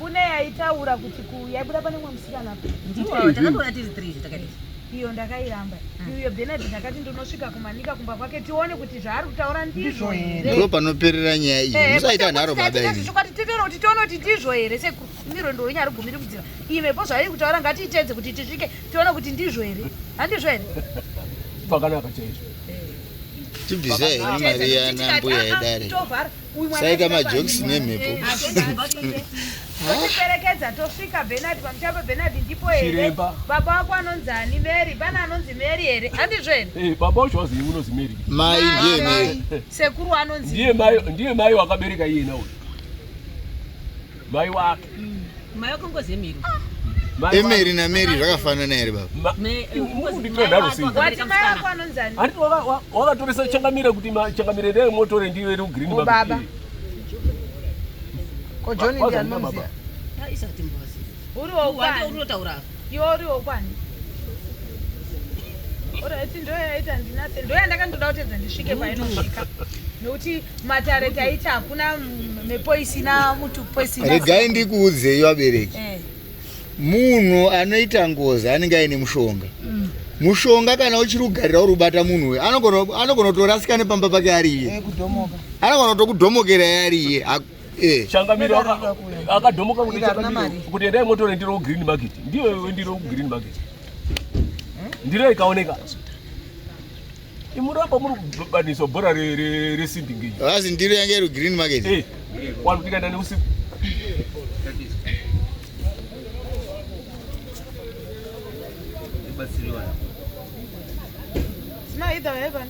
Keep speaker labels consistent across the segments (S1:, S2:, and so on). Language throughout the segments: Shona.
S1: kune
S2: yaitaura kuti yaibuda pane mwe musikana ndiwo takatoona tiri
S3: three takati iyo ndakairamba
S2: mm. iyo benard ndakati ndinosvika kumanika kumba kwake tione kuti zvaari kutaura ndizvo herendiko panoperera nyaya
S4: iyi eh, musaita nharo badaizvokwati titoona kuti
S2: tione kuti ndizvo here sekuru miro ndounya ari gumiri kudzira imepo zvairi kutaura ngatiitedze kuti tisvike tione kuti ndizvo here handizvo here pakanaka
S1: chaizvo eh.
S4: tibvisei mari yanambuya ah, ah, yedare saika majokes nemhepo
S2: tiperekedza tosvika benard pamuchapa benard ndipo here baba wako anonzi ani mary pana anonzi mary here handizvo here eh, baba wacho wazivi unonzi
S1: mary mai ndiye mary
S2: sekuru anonzi ndiye mai
S1: wakabereka iye nawo Mai wake. Mm. Mai wake ngozi
S3: yemiri. Ah. Emeri
S4: na Meri zvakafanana here baba?
S1: Wakatoresa changamire kuti changamire ndeye motore ndiyo iri green oh, baba. Ko John ndiye
S2: anoziva. Isati
S3: mbozi. Uri wokuti
S2: unotaura. Iwe
S3: uriwo
S2: kwani? Alright, ndo yaita ndinase. Ndo yandakandoda kutedza ndisvike painosvika. Nokuti matare taita hakuna mhepo isina mutu poisina. Regai ndikuudzei
S4: vabereki. Eh. Munhu anoita ngozi anenge aine mushonga. Mm. Mushonga kana uchiri kugarira uri kubata munhu uyu anogona kutorasika nepamba pake ari iye. Eh, anogona kutokudhomokera ari iye. Eh. changamiro
S1: akadhomoka kuti changamiro kuti endai motore ndiro green market ndiyo iwe ndiro green market hmm? ndiro ikaoneka imuramba muri kubaniswa bhora resimbi ngenyi asi ndiro yange iri
S4: green market eh. wani kuti kaenda
S1: neusiku No, either heaven.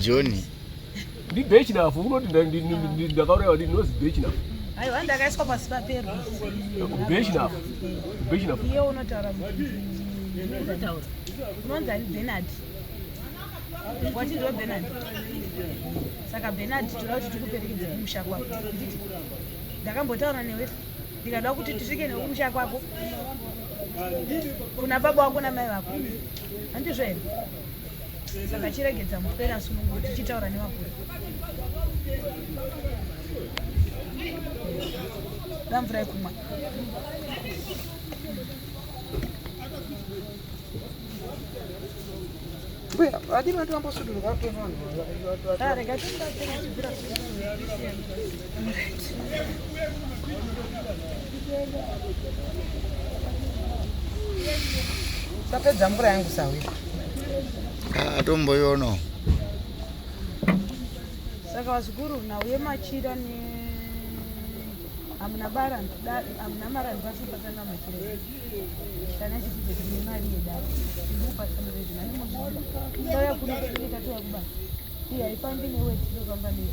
S2: joni
S1: ndibechinafu unoti ndakauraiwa ndi nozi bechinafu aiwa ndakaiswa
S2: pasi papero bechinafu
S1: bechinafu iye
S2: unotaura unonzi ani benard wachinziwa benard saka benard toda kuti tikuperekedze kumusha kwako ndakambotaura newe ndikada kuti tisvike newe kumusha kwako kuna baba wako namai vako handizvo here saka chiregedza mupera sunungo tichitaura nevakuru ramvura yekumwa
S5: mbuya vadii vanoti vambosudurwa kuvanhu Tapedza mvura yangu sawi. Ah, tomboyono.
S2: Saka vazukuru na uye machira ne amuna bara nda amuna mara ndipasi pasana machira. Kana chiti kuti ni mari yeda. Ndipo pasana zvezvi nani muzvona. Ndoya kuna kuita tuya kubasa. Iya ipambi newe tinofamba newe.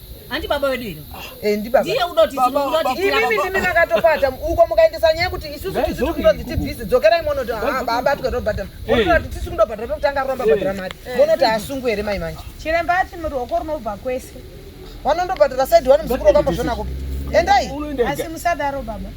S2: Handi
S3: baba wedu ino. Eh ndi baba. Ndiye
S5: unoti unoti
S3: imimi ndimi
S5: makatopata uko mukaendesa nyaya kuti isusu tisu tikunonzi tibhizi dzokerai mono to ah baba tiko tobhadhara. Mono kuti tisu kundobhadhara tokutanga kuramba bhadhara mari. Mono ta asungu here mai manje. Chiremba ati muri hoko
S2: rinobva kwese. Vanondobhadhara
S5: side wani muzukuru wakambozvona kupi. Endai. Asi musadaro
S2: baba.